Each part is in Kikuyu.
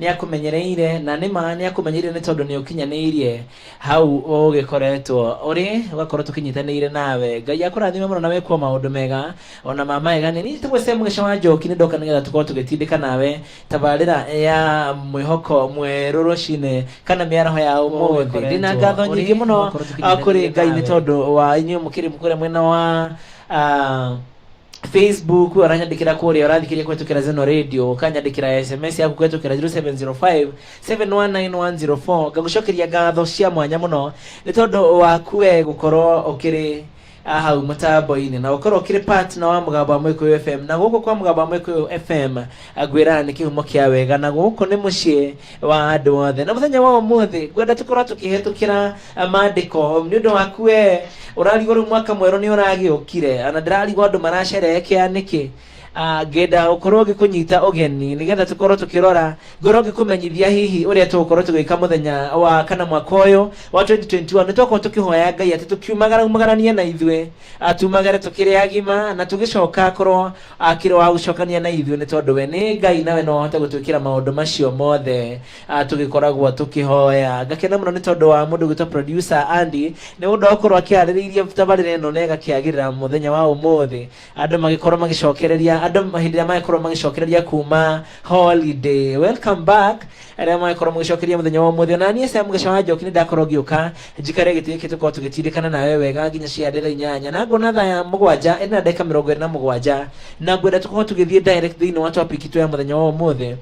Nĩakũmenyereire, na nĩ ma nĩakũmenyereire nĩ tondũ nĩũkinyanĩirie hau ũgĩkoretwo ũrĩ, ũgakorwo tũkĩnyitanĩire nawe. Ngai akũrathime mũno na wĩkwo maũndũ mega, ona ma magegania. Niĩ njĩtagwo Sam Gĩca wa Njoki, nĩndoka nĩgetha tũkorwo tũgĩtindĩka nawe tabarĩra ya mwĩhoko mwerũ rũcinĩ kana mĩaraho ya ũmũthĩ. Ndĩ na ngatho nyingĩ mũno kũrĩ Ngai nĩ tondũ wa inyuĩ mũkĩrĩ kũrĩa mwena wa Facebook, oranyandikira kũrĩa ũrathikĩria kũhetũkĩra Zeno Radio, ũkanyandĩkĩra SMS yaku kũhetũkĩra 0705 719104 ngagũcokeria ngatho cia mwanya mũno nĩ tondũ waku we gũkorwo ũkĩrĩ ah, hau mũtambo-inĩ na ũkorwo ũkĩrĩ partner wa mũgambo wa Mũgĩkũyũ FM na gũkũ kwa mũgambo wa Mũgĩkũyũ FM ngwĩra nĩ kĩhumo kĩa wega na gũkũ nĩ mũciĩ wa andũ othe na mũthenya wa ũmũthĩ ngwenda tũkorwo tũkĩhetũkĩra maandĩko nĩ ũndũ waku we ũrarigwo rĩu mwaka mwerũ nĩ ũragĩũkire na ndĩrarigwo andũ maracerehekea nĩkĩ Ah, ngenda ũkorwo ngĩkũnyita ũgeni nĩgetha tũkorwo tũkĩrora ngorwo ngĩkũmenyithia hihi ũrĩa tũgũkorwo tũgĩka mũthenya wa kana mwaka ũyũ wa 2021 nĩ twakorwo tũkĩhoya ngai atĩ tũkiumagara umagaranie na ithuĩ Ah, tumagare tũkĩrĩ agima na tũgĩcoka korwo akĩrĩ wa gũcokania na ithuĩ nĩ tondũ we nĩ ngai nawe no ahote gũtwĩkĩra maũndũ macio mothe Ah, tũgĩkoragwo tũkĩhoya ngakena mũno nĩ tondũ wa mũndũ gwĩtwo producer Andy nĩ ũndũ wa gũkorwo akĩarĩrĩirie tabarĩra ĩno na ĩgakĩagĩrĩra mũthenya wa ũmũthĩ andũ magĩkorwo magĩcokereria andũ hĩndĩ ĩrĩa magĩkorwo magĩcokereria kuma holiday welcome back arĩa magĩkorwo magĩcokereria mũthenya wa ũmũthĩ na niĩ cia mũgeca wa njoki nĩ ndakorwo ngĩũka njikare gĩtĩ gĩkĩ tũkorwo tũgĩtindĩkana nawe wega nginya cia ndĩra inyanya na ngona thaa ya mũgwanja ĩna na ndagĩka mĩrongo ĩrĩ na mũgwanja na ngwenda tũkorwo tũgĩthiĩ direct thĩinĩ wa topic itũ ya mũthenya wa ũmũthĩ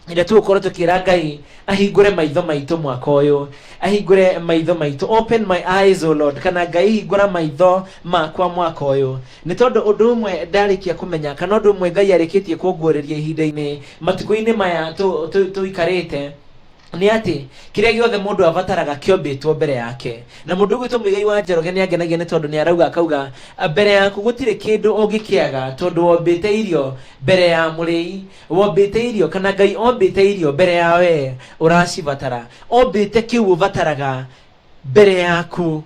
ĩrĩa tũgũkorwo tũkĩra ngai ahingũre maitho maitũ mwaka ũyũ ahingũre maitho maitũ open my eyes o lord kana ngai hingũra maitho makwa mwaka ũyũ nĩ tondũ ũndũ ũmwe ndarĩkia kũmenya kana ũndũ ũmwe ngai arĩkĩtie kũnguũrĩria ihinda-inĩ matukũ-inĩ maya tũ- tũ- tũikarĩte nĩ atĩ kĩrĩa gĩothe mũndũ abataraga kĩombĩtwo mbere yake na mũndũ ũgwĩtwo mũigai wa njoroge nĩ angenagia nĩ tondũ nĩ arauga akauga "A, mbere yaku gũtirĩ kĩndũ ũngĩkĩaga tondũ wombĩte irio mbere ya mũrĩi wombĩte irio kana ngai ombĩte irio mbere ya wee ũracibatara ombĩte kĩu ũbataraga mbere yaku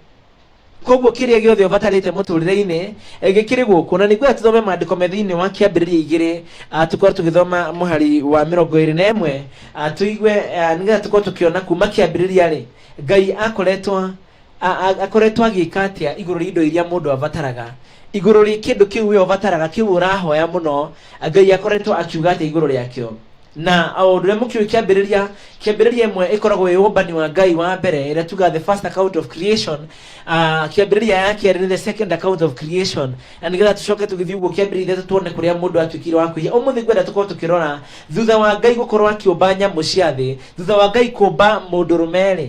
koguo kĩrĩa gĩothe ũbatarĩte mũtũrĩre-inĩ eh, gĩkĩrĩ gũkũ na nĩguo tũthome maandĩko me thĩinĩ wa kĩambĩrĩria igĩrĩ ah, tũkorwo tũgĩthoma mũhari wa mĩrongo ĩrĩ na ĩmwe ah, tũigue ah, nĩgetha tũkorwo tũkĩona kuma kĩambĩrĩria rĩ ngai akoretwo A- a- akoretwo agĩka atĩa igũrũ rĩa indo iria mũndũ abataraga igũrũ rĩa kĩndũ kĩu we ũbataraga kĩu ũrahoya mũno ngai akoretwo akiuga atĩa igũrũ rĩakĩo na o ũndũ ũrĩa mũkĩũĩ kĩambĩrĩria kĩambĩrĩria ĩmwe ĩkoragwo ĩ ũmbani wa ngai wa mbere ĩrĩa tuga the first account of creation uh, kĩambĩrĩria ya kerĩ nĩ the second account of creation na nĩgetha tũcoke tũgĩthiĩ ũguo kĩambĩrĩria ithatũ tuone kũrĩa mũndũ atuĩkire wa kũiya ũmũthĩ ngwenda tũkorwo tũkĩrora thutha wa ngai gũkorwo akĩũmba nyamũ cia thĩ thutha wa ngai kũmba mũndũ rũmerĩ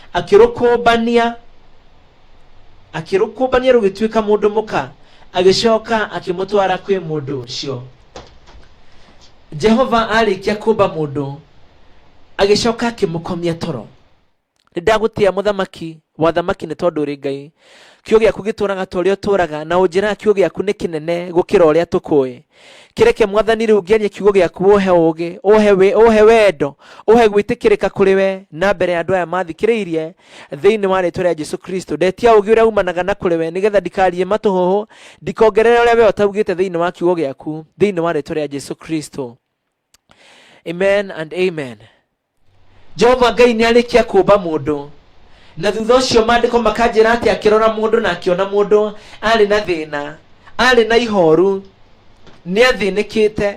akĩrũkũmbania akĩrũkũmbania rũgĩtuĩka mũndũ mũka agĩcoka akĩmũtwara kwĩ mũndũ ũcio jehova arĩkia kũmba mũndũ agĩcoka akĩmũkomia toro nĩ ndagũtĩa mũthamaki wathamaki nĩ tondũ ũrĩ ngai kiugo gĩaku gĩtũũraga ta ũrĩa ũtũũraga na ũnjĩraga kiugo gĩaku nĩ kĩnene gũkĩra ũrĩa tũkũĩ kĩreke mwathani rĩu ngĩenye kiugo gĩaku ũhe ũũgĩ ũhe wĩ- ũhe wendo ũhe gwĩtĩkĩrĩka kũrĩ we na mbere ya andũ aya mathikĩrĩirie thĩinĩ wa rĩtwa rĩa jesu kristo ndetia ũũgĩ ũrĩa umanaga na kũrĩ we nĩgetha ndikarie matũhũhũ ndikongerere ũrĩa we ũtaugĩte thĩinĩ wa kiugo gĩaku thĩinĩ wa rĩtwa rĩa jesu kristo amen and amen jehova ngai nĩ arĩkia kũmba mũndũ na thutha ũcio maandĩko makanjĩra atĩ akĩrora mũndũ na akĩona mũndũ arĩ na thĩna arĩ na ihoru nĩ athĩnĩkĩte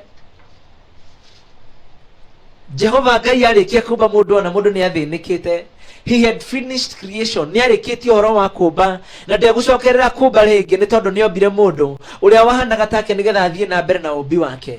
jehova ngai arĩkia kũmba mũndũ ona mũndũ nĩ athĩnĩkĩte he had finished creation nĩ arĩkĩtie ũhoro wa kũmba na ndegũcokerera kũmba rĩngĩ nĩ tondũ nĩ ombire mũndũ ũrĩa wahanaga take nĩgetha athiĩ na mbere na ũmbi wake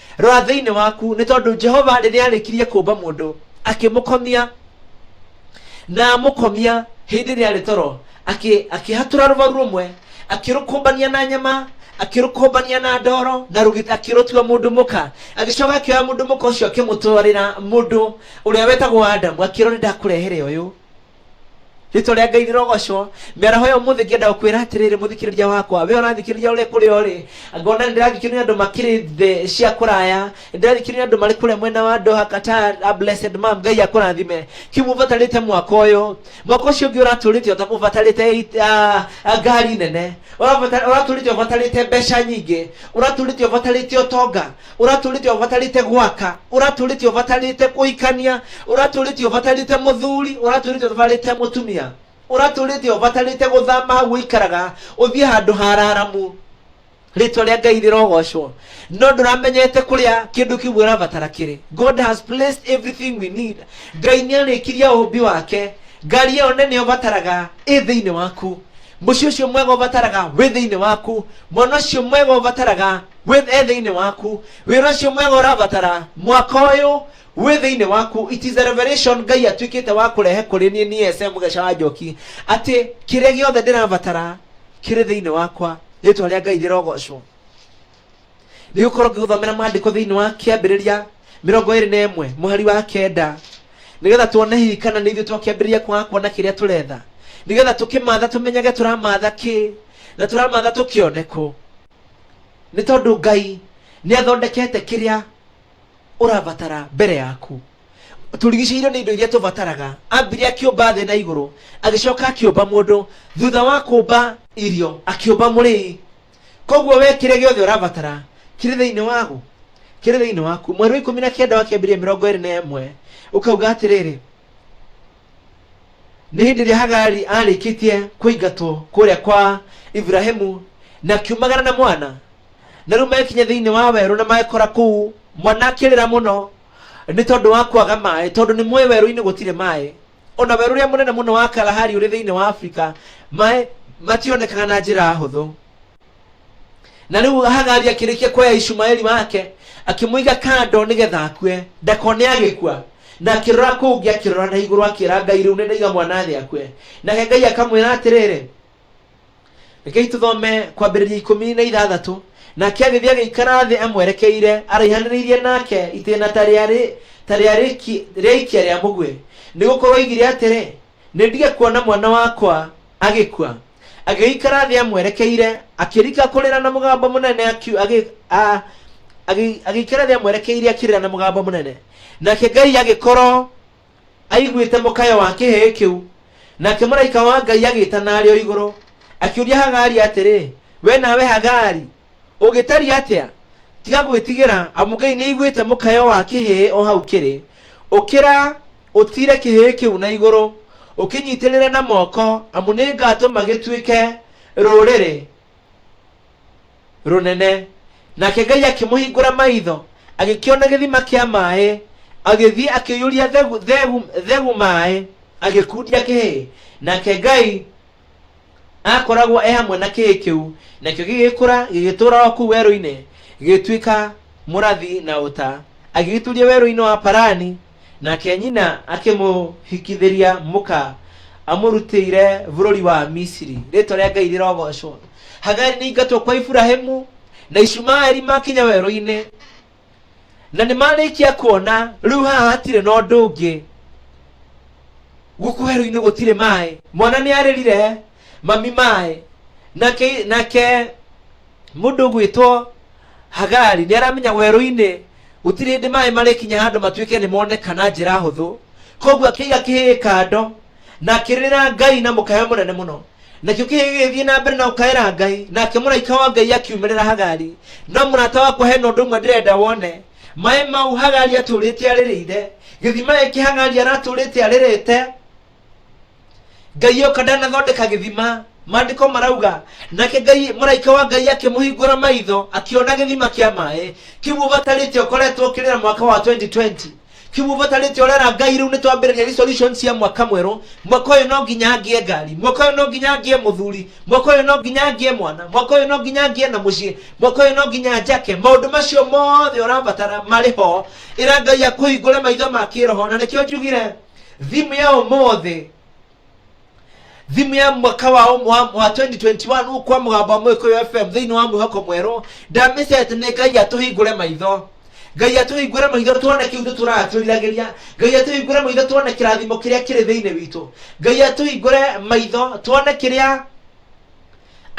Rora thĩinĩ waku, nĩ tondũ Jehova rĩrĩa arĩkirie kũmba mũndũ, akĩmũkomia na amũkomia hĩndĩ ĩrĩa arĩ toro, akĩ- akĩhatũra rũbaru rũmwe, akĩrũkũmbania na nyama, akĩrũkũmbania na ndoro, na rũgĩ- akĩrũtua mũndũ mũka. Agĩcoka akĩoya mũndũ mũka ũcio akĩmũtwarĩra mũndũ ũrĩa wetagwo Adamu, akĩrwo nĩ ndakũrehere ũyũ. rĩtwa rĩa ngai rĩrogocwo mĩaraho ya ũmũthĩ ngĩenda gũkwĩra atĩrĩrĩ mũthikĩrĩria wakwa we ũrathikĩrĩria ũrĩ kũrĩa ũrĩ ngona nĩ ndĩrathikĩrĩria andũ makĩrĩ thĩ cia kũraya nĩ ndĩrathikĩrĩria andũ marĩ kũrĩa mwena wa ndoha kata a blessed mam ngai akũrathime kĩu mũbatarĩte mwaka ũyũ mwaka ũcio ũngĩ ũratũrĩte ũta- ũbatarĩte it- ah, ah, ngari nene Ũrabata- ũratũrĩte ũbatarĩte mbeca nyingĩ ũratũrĩte ũbatarĩte ũtonga ũratũrĩte ũbatarĩte gwaka ũratũrĩte ũbatarĩte kũhikania ũratũrĩte ũbatarĩte mũthuri ũratũrĩte ũbatarĩte mũtumia ũratũrĩte ũbatarĩte gũthama hau ũikaraga ũthiĩ handũ hararamu rĩtwa rĩa ngai rĩrogocwo no ndũramenyete kũrĩa kĩndũ kĩu ũrabatara kĩrĩ god has placed everything we need ngai nĩ arĩkirie ũhũmbi wake ngari ĩyo nene ũbataraga ĩ thĩinĩ waku mũciĩ ũcio mwega ũbataraga wĩ thĩinĩ waku mwana ũcio mwega ũbataraga wĩ e thĩinĩ waku wĩra ũcio mwega ũrabatara mwaka ũyũ wĩ thĩinĩ waku it is a revelation ngai atuĩkĩte wa kũrehe kũrĩ niĩ niĩ ese mũgeca wa njoki atĩ kĩrĩa gĩothe ndĩrabatara kĩrĩ thĩinĩ wakwa rĩtwa rĩa ngai rĩrogocwo nĩ gũkorwo ngĩgũthomera maandĩko thĩinĩ wa kĩambĩrĩria mĩrongo ĩrĩ na ĩmwe mũhari wa kenda nĩgetha tuone hihi kana nĩ ithuĩ twakĩambĩrĩria kwaga kuona kĩrĩa tũretha nĩgetha tũkĩmatha tũmenyage tũramatha kĩ na tũramatha tũkĩone kũ Nĩ tondũ Ngai nĩ athondekete kĩrĩa ũrabatara mbere yaku. Tũrigicĩirio nĩ indo iria tũbataraga. Ambire akĩũmba thĩ na igũrũ, agĩcoka akĩũmba mũndũ. Thutha wa kũũmba irio, akĩũmba mũrĩi. Koguo we kĩrĩa gĩothe ũrabatara kĩrĩ thĩinĩ wagu, kĩrĩ thĩinĩ waku. Mweri wa ikũmi na kenda wa Kĩambĩrĩria mĩrongo ĩrĩ na ĩmwe ũkauga atĩrĩrĩ, nĩ hĩndĩ ĩrĩa hagari arĩkĩtie kũingatwo kũrĩa kwa iburahimu na kiumagara na mwana na rĩu mekinya thĩinĩ wa werũ na magekora kũu mwana akĩrĩra mũno nĩ tondũ wa kwaga maĩ tondũ nĩ mũĩ werũ-inĩ gũtirĩ maĩ ona werũ ũrĩa mũnene mũno wa kalahari ũrĩ thĩinĩ wa afrika maĩ mationekaga na njĩra hũthũ na rĩu hagari akĩrĩkia kuoya ishumaeli wake akĩmũiga kando nĩgetha akue ndakone agĩkua na akĩrora kũu ngĩ akĩrora na igũrũ akĩra ngai rĩu nĩndaiga mwana thĩ akue nake ngai akamwĩra atĩrĩrĩ rekei tũthome kwambĩrĩria ikũmi na ithathatũ nake agĩthiĩ agĩikara thĩ amwerekeire araihanĩrĩirie nake itĩna ta rĩarĩ ta rĩarĩki- rĩaikia rĩa mũguĩ nĩ gũkorwo oigire atĩrĩ Nĩ ndige kuona mwana wakwa agĩkua. Agĩgĩikara thĩ amwerekeire, akĩrika kũrĩra na mũgambo mũnene, akiu- agĩ- a- agĩ- agĩikara thĩ amwerekeire akĩrĩra na mũgambo mũnene. Nake Ngai agĩkorwo aiguĩte mũkayo wa kĩhĩĩ kĩu. Nake mũraika wa Ngai agĩĩtana arĩ o igũrũ, akĩũria Hagari atĩrĩ, We nawe Hagari, ũngĩtariĩ atĩa tiga gwĩtigĩra amu ngai nĩ aiguĩte mũkayo wa kĩhĩĩ o hau kĩrĩ ũkĩra ũtire kĩhĩĩ kĩu na igũrũ ũkĩnyitĩrĩre na moko amu nĩ ngatũma gĩtuĩke rũrĩrĩ rũnene nake ngai akĩmũhingũra maitho agĩkĩona gĩthima kĩa maĩ agĩthiĩ akĩiyũria thegu, thegu, thegu maĩ agĩkundia kĩhĩĩ nake ngai aakoragwo e hamwe na kĩĩ kĩu nakĩo gĩgĩkũra gĩgĩtũũra o kũu werũ-inĩ gĩgĩtuĩka mũrathi na ũta agĩgĩturia werũ-inĩ wa parani nake nyina akĩmũhikithĩria mũka amũrutĩire bũrũri wa misiri rĩtwa rĩa ngai rĩrogocwo hagari nĩ ingatwo kwa iburahimu na ishumaeli makinya werũ-inĩ na nĩ marĩkia kuona rĩu haha hatirĩ na ũndũ ũngĩ gũkũ werũ-inĩ gũtirĩ maĩ mwana nĩ arĩrire mami maĩ nake nake mũndũ ũgwĩtwo hagari nĩ aramenya werũ-inĩ gũtirĩ hĩndĩ maĩ marĩkinya handũ matuĩke nĩ moneka na njĩra hũthũ koguo akĩiga kĩhĩĩ kando na akĩrĩrĩra ngai na mũkaya mũnene mũno nakĩo kĩgĩgĩthiĩ na mbere na gũkaĩra ngai nake mũraika wa ngai akiumĩrĩra hagari no mũrata wakwa hena ũndũ ũmwe ndĩrenda wone maĩ mau hagari atũrĩte arĩrĩire gĩthima gĩkĩ hagari aratũrĩte arĩrĩte ngai oka ndanathondeka gĩthima maandĩko marauga nake ngai mũraika wa ngai akĩmũhingũra maitho akĩona gĩthima kĩa maĩ kĩu ũbatarĩte ũkoretwo ũkĩrĩra mwaka wa 2020 kimubatarĩte ũrĩa na ngai rĩu nĩtwambĩrĩria resolution cia mwaka mwerũ mwaka ũyũ no nginya ngĩe ngari mwaka ũyũ no nginya ngĩe mũthuri mwaka ũyũ no nginya ngĩe mwana mwaka ũyũ no nginya ngĩe na mũciĩ mwaka ũyũ no nginya njake maũndũ macio mothe ũrabatara marĩ ho ĩra ngai akũhingũre maitho ma kĩroho na nĩkĩo njugire thimũ ya ũmũthĩ thimu ya mwaka wa ũmwe wa wa 2021 gũkũ kwa mũgambo wa mũgĩkũyũ fm thĩinĩ wa mwĩhoko mwerũ ndamĩcete nĩ ngai atũhingũre maitho ngai atũhingũre maitho tuone kĩu nĩ tũratũriragĩria ngai atũhingũre maitho tuone kĩrathimo kĩrĩa kĩrĩ thĩinĩ witũ ngai atũhingũre maitho tuone kĩrĩa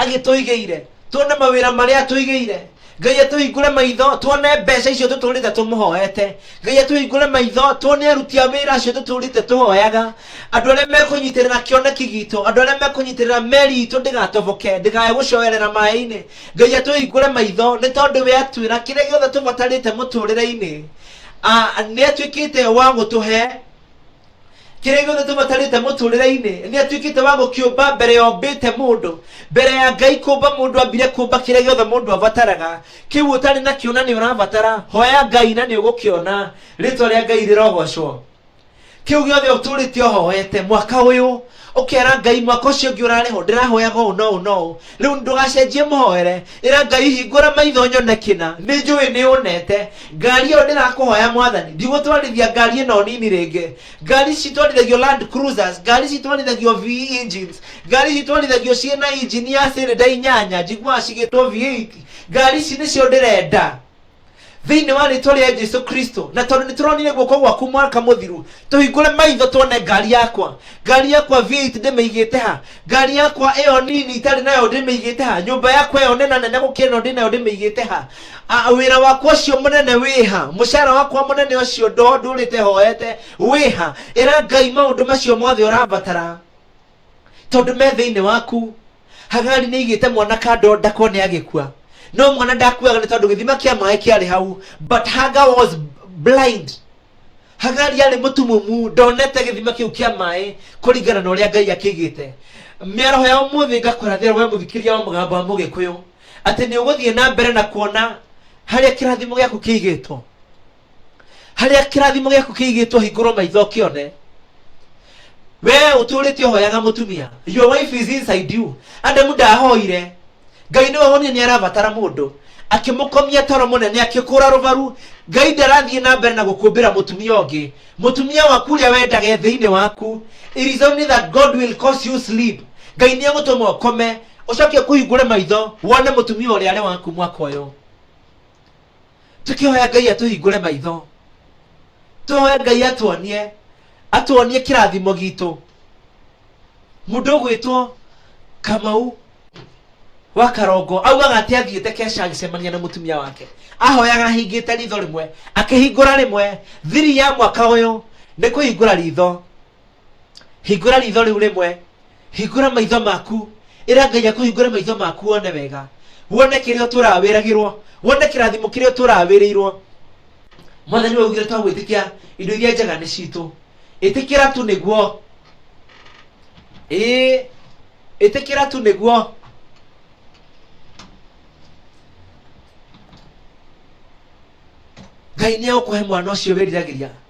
agĩtũigĩire tuone mawĩra marĩa atũigĩire ngai atũhingũre maitho tuone mbeca icio tũtũrĩte tũmũhoete ngai atũhingũre maitho tuone aruti a wĩra acio tũtũrĩte tũhoyaga andũ arĩa mekũnyitĩrĩra kĩoneki gitũ andũ arĩa mekũnyitĩrĩra meri itũ ndĩgatoboke ndĩkae gũcoerera maĩ-inĩ ngai atũhingũre maitho nĩ tondũ we atwĩra kĩrĩa gĩothe tũbatarĩte mũtũrĩre-inĩ nĩ atuĩkĩte wa gũtũhe kĩrĩa gĩothe tũbatarĩte mũtũrĩre-inĩ nĩ atuĩkĩte wa gũkĩũmba mbere ya ombĩte mũndũ mbere ya ngai kũmba mũndũ ambire kũmba kĩrĩa gĩothe mũndũ abataraga kĩu ũtarĩ nakĩo na nĩ ũrabatara hoya ngai na nĩ ũgũkĩona rĩtwa rĩa ngai rĩrogocwo kĩu gĩothe ũtũrĩte ũhoete mwaka ũyũ ũkera ngai mwaka ũcio ũngĩ ũrarĩ ho ndĩrahoyaga ũũ na ũũ na ũũ rĩu ndũgacenjie mũhoere ĩra ngai hingũra maitho nyone kĩna nĩ njũĩ nĩ ũnete ngari ĩyo ndĩrakũhoya mwathani ndigũtwarithia ngari ĩno nini rĩngĩ ngari ici itwarithagio land cruisers ngari ici itwarithagio v engines ngari ici itwarithagio ciĩ na injini ya cylinder inyanya njiguaga cigĩtwo v8 ngari ici nĩcio ndĩrenda thĩinĩ wa rĩtwa rĩa jesu kristo na tondũ nĩ tũronire guoko gwaku mwaka mũthiru tũhingũre maitho tuone ngari yakwa ngari yakwa v8 ndĩmĩigĩte ha ngari yakwa ĩyo nini itarĩ nayo ndĩmĩigĩte ha nyũmba yakwa ĩyo nena nene gũkĩra ĩno ndĩ nayo ndĩmĩigĩte ha A- wĩra wakwa ũcio mũnene wĩ ha mũcara wakwa mũnene ũcio ndo ndũrĩte hoete wĩ ha ĩra ngai maũndũ macio mothe ũrabatara tondũ me thĩinĩ waku hagari nĩ igĩte mwana kando ndakwa nĩ agĩkua no mwana ndakuaga nĩ tondũ gĩthima kĩa maĩ kĩarĩ hau but haga was blind hagari arĩ mũtumumu ndonete gĩthima kĩu kĩa maĩ kũringana na ũrĩa ngai akĩigĩte mĩaraho ya ũmũthĩ ngakũrathĩra we mũthikĩria wa mũgambo wa mũgĩkũyũ atĩ nĩ ũgũthiĩ na mbere na kuona harĩa kĩrathimo gĩaku kĩigĩtwo harĩa kĩrathimo gĩaku kĩigĩtwo hingũrwo maitho kĩone wee ũtũrĩte ũhoyaga mũtumia your wife is inside you adamu ndahoire ngai nĩwe wonire nĩ arabatara mũndũ akĩmũkomia toro mũnene akĩkũra rũbaru ngai ndarathiĩ na mbere na gũkũmbĩra mũtumia ũngĩ mũtumia waku ũrĩa wendage thĩinĩ waku it is only that god will cause you sleep ngai nĩ egũtũma ũkome ũcoke kũhingũre maitho wone mũtumia ũrĩa arĩ waku mwaka ũyũ tũkĩhoya ngai atũhingũre maitho tũhoya ngai atuonie atuonie kĩrathimo gitũ mũndũ ũgwĩtwo kamau wa karongo augaga atĩ athiĩte keca agĩcemania na mũtumia wake ahoyaga ahingĩte ritho rĩmwe akĩhingũra rĩmwe thiri ya mwaka ũyũ nĩ kũhingũra ritho hingũra ritho rĩu rĩmwe hingũra maitho maku ĩra ngai akũhingũre maitho maku wone wega wone kĩrĩa ũtũraga wĩragĩrwo wone kĩrathimo kĩrĩa ũtũraga wĩrĩirwo mwathani waugire twa gwĩtĩkia indo iria njega nĩ citũ ĩtĩkĩra tu nĩguo ĩĩ ĩtĩkĩra tu nĩguo ngai nĩ egũkũhe mwana ũcio wĩriragĩria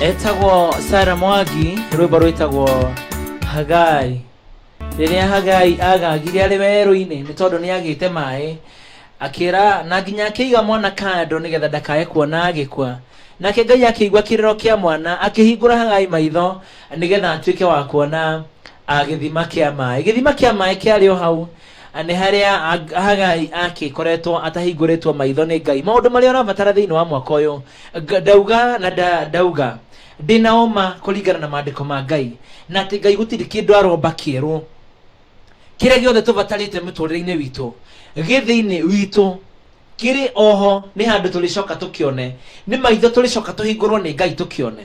etagwo sara mwagi rwimbo rwitagwo hagai rĩrĩa hagai agagire arĩ werũ-inĩ nĩ tondũ nĩ agĩte maĩ akĩra na nginya akĩiga mwana kando nĩgetha ndakae kuona agĩkua nake ngai akĩigua kĩrĩro kĩa mwana akĩhingũra hagai maitho nĩgetha atuĩke wa kuona ah, gĩthima kĩa maĩ gĩthima kĩa maĩ kĩarĩ o hau ah, nĩ harĩa ah, hagai akĩkoretwo atahingũrĩtwo maitho nĩ ngai maũndũ marĩa ũrabatara thĩinĩ wa mwaka ũyũ Nga- ndauga na nda- ndauga ndĩ na ũma kũringana na maandĩko ma ngai na atĩ ngai gũtirĩ kĩndũ aromba kĩerũ kĩrĩa gĩothe tũbatarĩte mũtũrĩre-inĩ witũ gĩ thĩinĩ witũ kĩrĩ oho nĩ handũ tũrĩcoka tũkĩone nĩ maitho tũrĩcoka tũhingũrwo nĩ ngai tũkĩone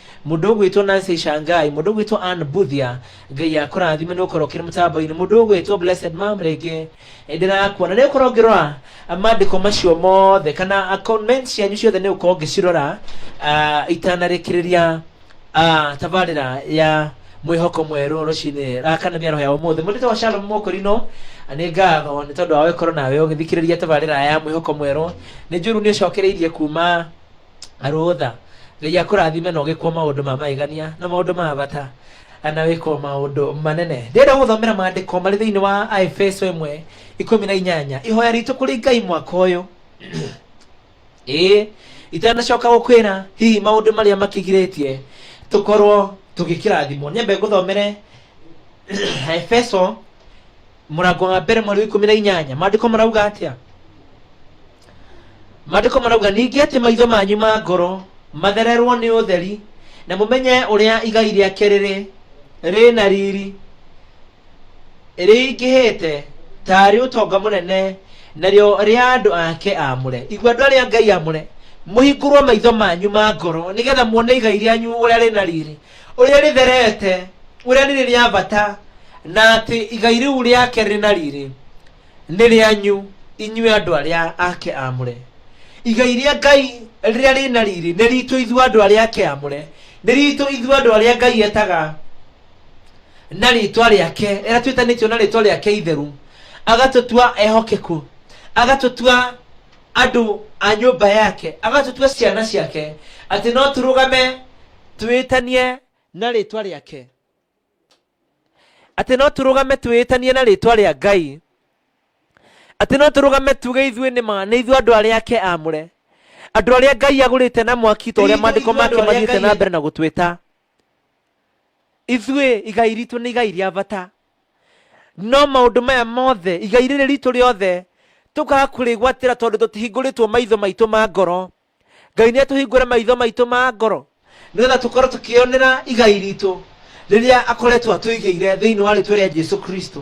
Mũndũ ũgwĩtwo Nancy Shangai, mũndũ ũgwĩtwo Ann Buthia, Ngai akũrathime nĩ ũkorwo ũkĩrĩ mũtambo-inĩ, mũndũ ũgwĩtwo Blessed Mom rĩngĩ eh, ndĩrakuona nĩ ũkorwo ngĩrora ah, maandĩko macio mothe kana ah, comment cianyu ciothe nĩ ũkorwo ngĩcirora ah, itanarĩkĩrĩria ah, tabarĩra ya mwĩhoko mwerũ rũcinĩ ah, kana mĩaraho ya ũmũthĩ mũndũ tagwo Shalom Mũkũrinũ ah, nĩ ngatho nĩ tondũ wa gũkorwo nawe ũgĩthikĩrĩria tabarĩra ya mwĩhoko mwerũ nĩ njũru nĩ ũcokereirie kuma rũtha ngai akũrathime na ũgĩkwo maũndũ ma magegania na maũndũ ma bata na wĩkwo maũndũ manene ndĩrenda gũthomera maandĩko marĩ thĩinĩ wa aefeso ĩmwe ikũmi na inyanya ihoya ritũ kũrĩ ngai mwaka ũyũ ĩĩ itanacoka gũkwĩra hihi maũndũ marĩa makĩgirĩtie tũkorwo tũgĩkĩrathimwo nyambe ngũthomere aefeso mũrango wa mbere mweri wa ikũmi na inyanya maandĩko marauga atĩa maandĩko marauga ningĩ atĩ maitho manyu ma ngoro mathererwo nĩ ũtheri na mũmenye ũrĩa igai rĩake rĩrĩ rĩ na riri rĩingĩhĩte tarĩ ũtonga mũnene narĩo rĩa andũ ake amũre igua andũ arĩa ngai amũre mũhingũrwo maitho manyu ma ngoro nĩgetha muone igai rĩanyu ũrĩa rĩ na riri ũrĩa rĩtherete, ũrĩa nĩ rĩa bata, na atĩ igai rĩu rĩake rĩ na riri nĩ rĩanyu inyuĩ andũ arĩa ake amũre. Igai rĩa Ngai rĩrĩa rĩ na riri nĩ ritũ ithuĩ andũ arĩa ake amũre, nĩ ritũ ithuĩ andũ arĩa Ngai etaga na rĩtwa rĩake, rĩrĩa twĩtanĩtio na rĩtwa rĩake itheru, agatũtua ehokeku, agatũtua andũ a nyũmba yake agatũtua ciana ciake atĩ no tũrũgame twĩtanie na rĩtwa rĩake atĩ no tũrũgame twĩtanie na rĩtwa rĩa ngai atĩ no tũrũgame tuge ithuĩ nĩ ma nĩ ithuĩ andũ arĩa ake amũre andũ arĩa ngai agũrĩte na mwaki ta ũrĩa Ithuĩ maandĩko andũ make arĩa mathiĩte Ngai- na mbere na gũtwĩta ithuĩ igai ritũ nĩ igai rĩa bata no maũndũ maya mothe igai rĩrĩ ritũ rĩothe tũkaga kũrĩgwatĩra tondũ tũtihingũrĩtwo maitho maitũ ma ngoro ngai nĩ atũhingũre maitho maitũ ma ngoro nĩgetha tũkorwo tũkĩonera igai ritũ rĩrĩa akoretwo atũigĩire thĩinĩ wa rĩtwa rĩa jesu kristo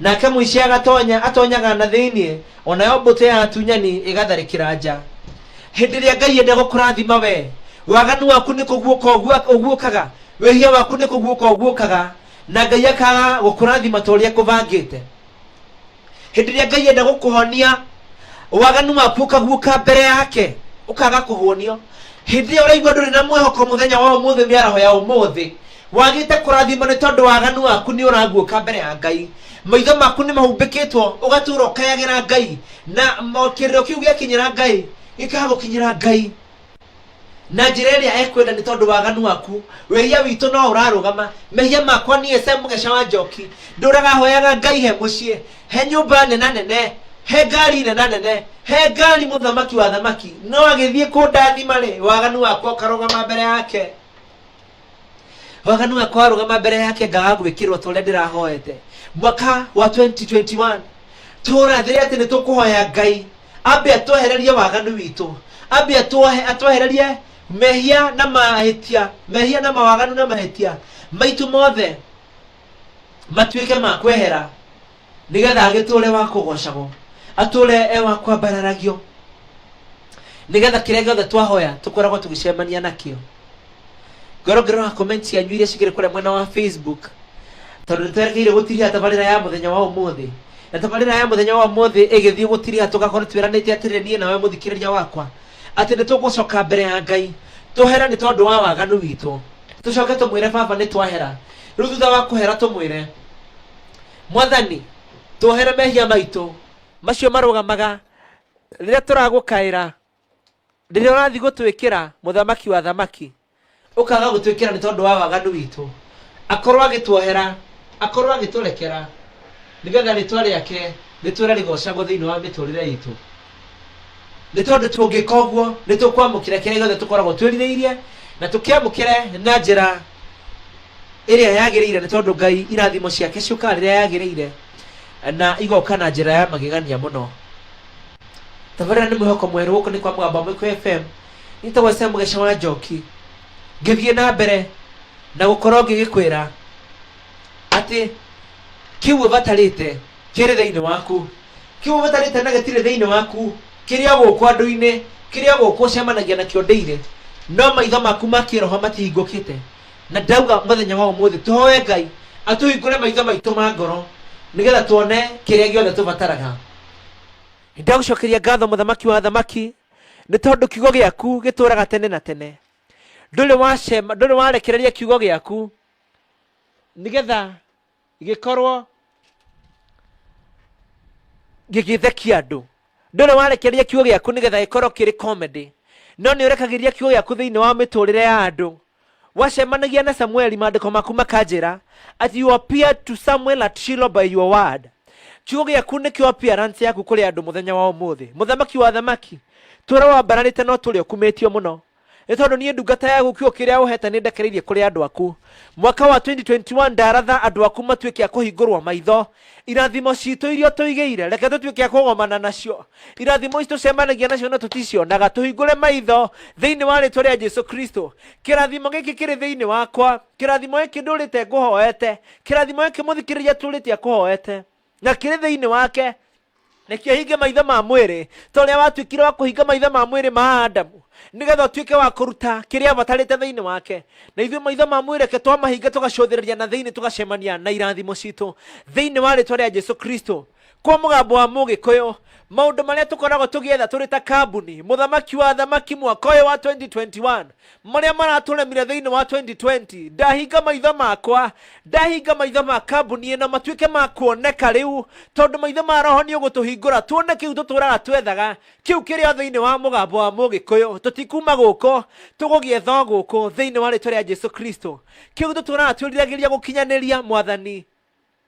Nake mũici agatonya atonyaga na thĩinĩ, o nayo mbũtũ ya atunyani ĩgatharĩkĩra nja. Hĩndĩ ĩrĩa Ngai enda gũkũrathima we, waganu waku nĩ kũguũka ũgua- ũguũkaga, wĩhia waku nĩ kũguũka ũguũkaga, na Ngai akaga gũkũrathima ta ũrĩa ekũbangĩte. Hĩndĩ ĩrĩa Ngai enda gũkũhonia, waganu waku ũkaguũka mbere yake, ũkaga kũhonio. Hĩndĩ ĩyo ũraigua ndũrĩ na mwĩhoko mũthenya wa ũmũthĩ, mĩaraho ya ũmũthĩ, wagĩte kũrathimwo nĩ tondũ waganu waku nĩ ũraguũka mbere ya ngai maitho maku nĩ mahumbĩkĩtwo ũgatũra ũkayagĩra ngai na kĩrĩro kĩu gĩakinyĩra ngai gĩkagũkinyĩra ngai na njĩra ĩrĩa ekwenda nĩ tondũ waganu waku wĩhia witũ no ũrarũgama mehia makwa niĩ se mũgeca wa njoki ndũraga hoyaga ngai he mũciĩ he nyũmba nena nene he ngari nena nene he ngari mũthamaki wa thamaki no agĩthiĩ kũndathima rĩ waganu wakwa ũkarũgama mbere yake waganu wa kwarũgama mbere yake ngaga gwĩkĩrwo ta ũrĩa ndĩrahoete mwaka wa 2021 tũrathĩre atĩ nĩ tũkũhoya ngai ambe atwehererie waganu witũ ambe atwohe- atwehererie mehia na mahĩtia mehia na mawaganu na mahĩtia maitũ mothe matuĩke ma kwehera nĩgetha agĩtũre wa kũgocagwo atũre e wa kwambararagio nĩgetha kĩrĩa gĩothe twahoya tũkoragwo tũgĩcemania nakĩo ngoro ngĩrora comment cianyu iria cikĩrĩ kũrĩa mwena wa facebook tondũ nĩtwerekeire gũtiria tabarĩra ya mũthenya wa ũmũthĩ na tabarĩra ya mũthenya wa ũmũthĩ ĩgĩthiĩ gũtiria tũgakorwo twĩranĩte atĩrĩ niĩ nawe mũthikĩrĩria wakwa atĩ nĩtũgũcoka mbere ya ngai tũhere nĩ tondũ wa waganu witũ tũcoke tũmwĩre baba nĩ twahera rĩu thutha wa kũhera tũmwĩre mwathani tuohere mehia maitũ macio marũgamaga rĩrĩa tũragũkaĩra rĩrĩa ũrathiĩ gũtwĩkĩra mũthamaki wa thamaki ũkaga gũtwĩkĩra nĩ tondũ wa waganu witũ akorwo agĩtuohera akorwo agĩtũrekera nĩgetha rĩtwa rĩake rĩtwĩre rĩgocagwo thĩinĩ wa mĩtũrĩre itũ nĩ tondũ tũngĩka ũguo nĩ tũkwamũkĩra kĩrĩa gĩothe tũkoragwo twĩrirĩirie na tũkĩamũkĩre na njĩra ĩrĩa yagĩrĩire nĩ tondũ ngai irathimo ciake ciũkaga rĩrĩa yagĩrĩire na igoka na njĩra ya magegania mũno tabarĩra nĩ mwĩhoko mwerũ gũkũ nĩ kwa mũgambo wa mũikũ fm nĩtagwo sam gĩca wa njoki ngĩthiĩ na mbere na gũkorwo ngĩgĩkwĩra atĩ kĩu ũbatarĩte kĩrĩ thĩinĩ waku kĩu ũtarĩte na gĩtirĩ thĩinĩ waku kĩrĩa gũkũ andũ-inĩ kĩrĩa gũkũ ũcemanagia nakĩo ndĩire no maitho maku ma kĩroho matihingũkĩte na ndauga mũthenya wa ũmũthĩ tũhoe ngai atũhingũre maitho maitũ ma ngoro nĩgetha tuone kĩrĩa gĩothe tũbataraga ndagũcokeria ngatho mũthamaki wa thamaki nĩ tondũ kiugo gĩaku gĩtũraga tene na tene ndũrĩ wacema ndũrĩ warekereria kiugo gĩaku nĩgetha gĩkorwo gĩgĩthekia andũ ndũrĩ warekereria kiugo gĩaku nĩgetha gĩkorwo kĩrĩ comedy no nĩ ũrekagĩria kiugo gĩaku thĩinĩ wa mĩtũrĩre ya andũ wacemanagia na samueli maandĩko maku makanjĩra at you appear to samuel at Shiloh by your word kiugo gĩaku nĩkĩo appearance yaku kũrĩ andũ mũthenya wa ũmũthĩ mũthamaki wa thamaki tũrĩa wambararĩte no tũrĩa ũkumĩtio mũno Nĩ tondũ niĩ ndungata yaku kiugo kĩrĩa ũheete nĩndekereirie kũrĩ andũ aku. Mwaka wa 2021 ndaratha andũ aku matuĩke a kũhingũrwo maitho. Irathimo ciitũ iria ũtũigĩire, reke tũtuĩke a kũgomana nacio. Irathimo ici tũcemanagia nacio no tũticionaga. Tũhingũre maitho thĩinĩ wa rĩĩtwa rĩa Jesu Kristo. Kĩrathimo gĩkĩ kĩrĩ thĩinĩ wakwa. Kĩrathimo gĩkĩ ndũũrĩte ngũhoete. Kĩrathimo gĩkĩ mũthikĩrĩria atũũrĩte akũhoete. na kĩrĩ thĩinĩ wake nĩkĩo hinge maitho ma mwĩrĩ ta ũrĩa watuĩkire wa kũhinga maitho ma mwĩrĩ ma adamu nĩgetha ũtuĩke wa kũruta kĩrĩa abatarĩte thĩinĩ wake na ithuĩ maitho ma mwĩrĩ ke twamahinga tũgacũthĩrĩria na thĩinĩ tũgacemania na irathimo citũ thĩinĩ wa rĩtwa rĩa jesu kristo kwa mũgambo wa mũgĩkũyũ maũndũ marĩa tũkoragwo tũgĩetha tũrĩ ta kambuni mũthamaki wa thamaki mwaka ũyũ wa 2021 marĩa maratũremire thĩinĩ wa 2020 ndahinga maitho makwa ndahinga maitho ma kambuni ĩno matuĩke ma kuoneka rĩu tondũ maitho ma roho nĩ ũgũtũhingũra tuone kĩu tũtũraga twethaga kĩu kĩrĩa thĩinĩ wa mũgambo wa mũgĩkũyũ tũtikuma gũkũ tũgũgĩetha o gũkũ thĩinĩ wa rĩtwa rĩa jesu kristo kĩu tũtũraga twĩriragĩria gũkinyanĩria mwathani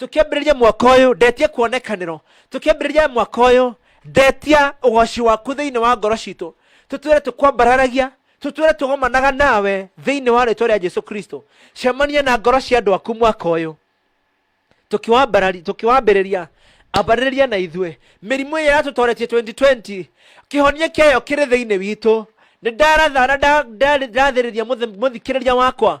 tũkĩambĩrĩria mwaka ũyũ ndetia kuonekanĩro tũkĩambĩrĩria mwaka ũyũ ndetia ũgoci waku thĩinĩ wa ngoro citũ tũtwĩre tũkwambararagia tũtwĩre tũgomanaga nawe thĩinĩ wa rĩtwa rĩa jesu kristo cemania na ngoro cia andũ aku mwaka ũyũ tũkĩwambarari- tũkĩwambĩrĩria ambarĩrĩria na ithuĩ mĩrimũ ĩrĩa yatũtoretie 2020 kĩhonia kĩayo kĩrĩ thĩinĩ witũ nĩ ndaratha na nda- nda- ndathĩrĩria mũthi- mũthikĩrĩria wakwa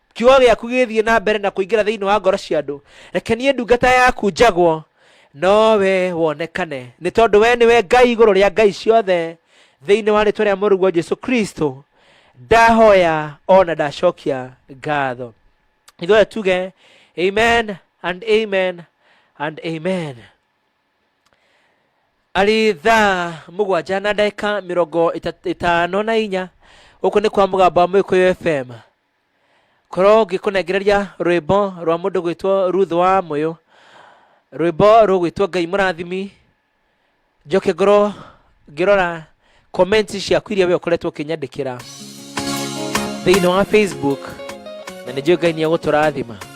kiugo gĩaku gĩthiĩ na mbere na kũingĩra thĩinĩ wa ngoro cia andũ reke niĩ ndungata yaku njagwo no we wonekane nĩ tondũ we nĩwe ngai igũrũ rĩa ngai ciothe thĩinĩ wa rĩtwa rĩa mũrũguo jesu kristo ndahoya ona ndacokia ngatho ithuothe tuge amen and amen and amen arĩ thaa mũgwanja na ndagĩka mĩrongo ĩta- ĩtano na inya gũkũ nĩ kwa mũgambo wa mũgĩkũyũ fm korwo ngĩkũnengereria rwĩmbo rwa mũndũ gwĩtwo ruth wa mũyũ rwĩmbo rũgwĩtwo ngai mũrathimi njoke ngorwo ngĩrora comments ciaku iria we ũkoretwo ũkĩnyandĩkĩra thĩinĩ wa facebook na nĩ njũĩ ngai nĩ egũtũrathima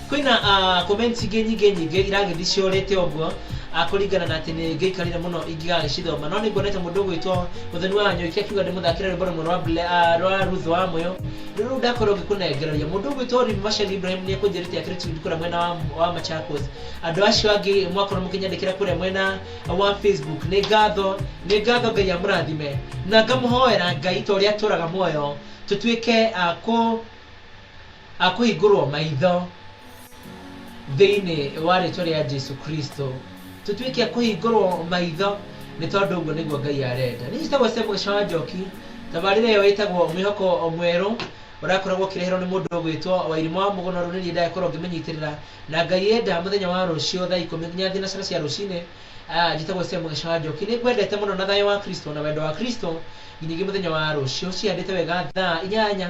Kwĩna ah, comment ingĩ nyingĩ nyingĩ iragĩthiĩ ciorĩte ũguo ah, kũringana na atĩ nĩ ngĩikarire mũno ingĩgagĩcithoma no nĩ nguona ta mũndũ ũgwĩtwo mũthoni wa nyũiki akiuga ndĩmũthakĩre rwĩmbo rũmwe rwa Ble- ah, rwa Ruth wa Moyo rũrĩa rũu ndakorwo ngĩkũnengereria mũndũ ũgwĩtwo Rib Mashali Ibrahim nĩ ekũnjĩrĩte akĩrĩ Tindi kũrĩa mwena wa, wa Machakos andũ acio angĩ mwakorwo mũkĩnyandĩkĩra kũrĩa mwena wa Facebook nĩ ngatho nĩ ngatho Ngai amũrathime na ngamũhoera Ngai ta ũrĩa atũraga muoyo tũtuĩke ah, kũ A kũhingũrwo maitho thĩinĩ wa rĩtwa rĩa Jesu Kristo. Tũtuĩke a kũhingũrwo maitho nĩ tondũ ũguo nĩguo Ngai arenda. Niĩ njĩtagwo Sam Gĩcaũ wa Njoki. Tabarĩra ĩyo ĩtagwo Mwĩhoko Mwerũ ũrakoragwo ũkĩreherwo nĩ mũndũ ũgwĩtwo Wairimũ wa Mũgũna ũrĩa nĩ niĩ ndagĩkorwo ngĩmĩnyitĩrĩra. Na Ngai enda mũthenya wa rũciũ thaa ikũmi nginya thinacara cia rũcinĩ. Ah, njĩtagwo Sam Gĩcaũ wa Njoki. Nĩ ngwendete mũno na thayũ wa Kristo na wendo wa Kristo nginyagia mũthenya wa rũciũ cihandĩte wega thaa inyanya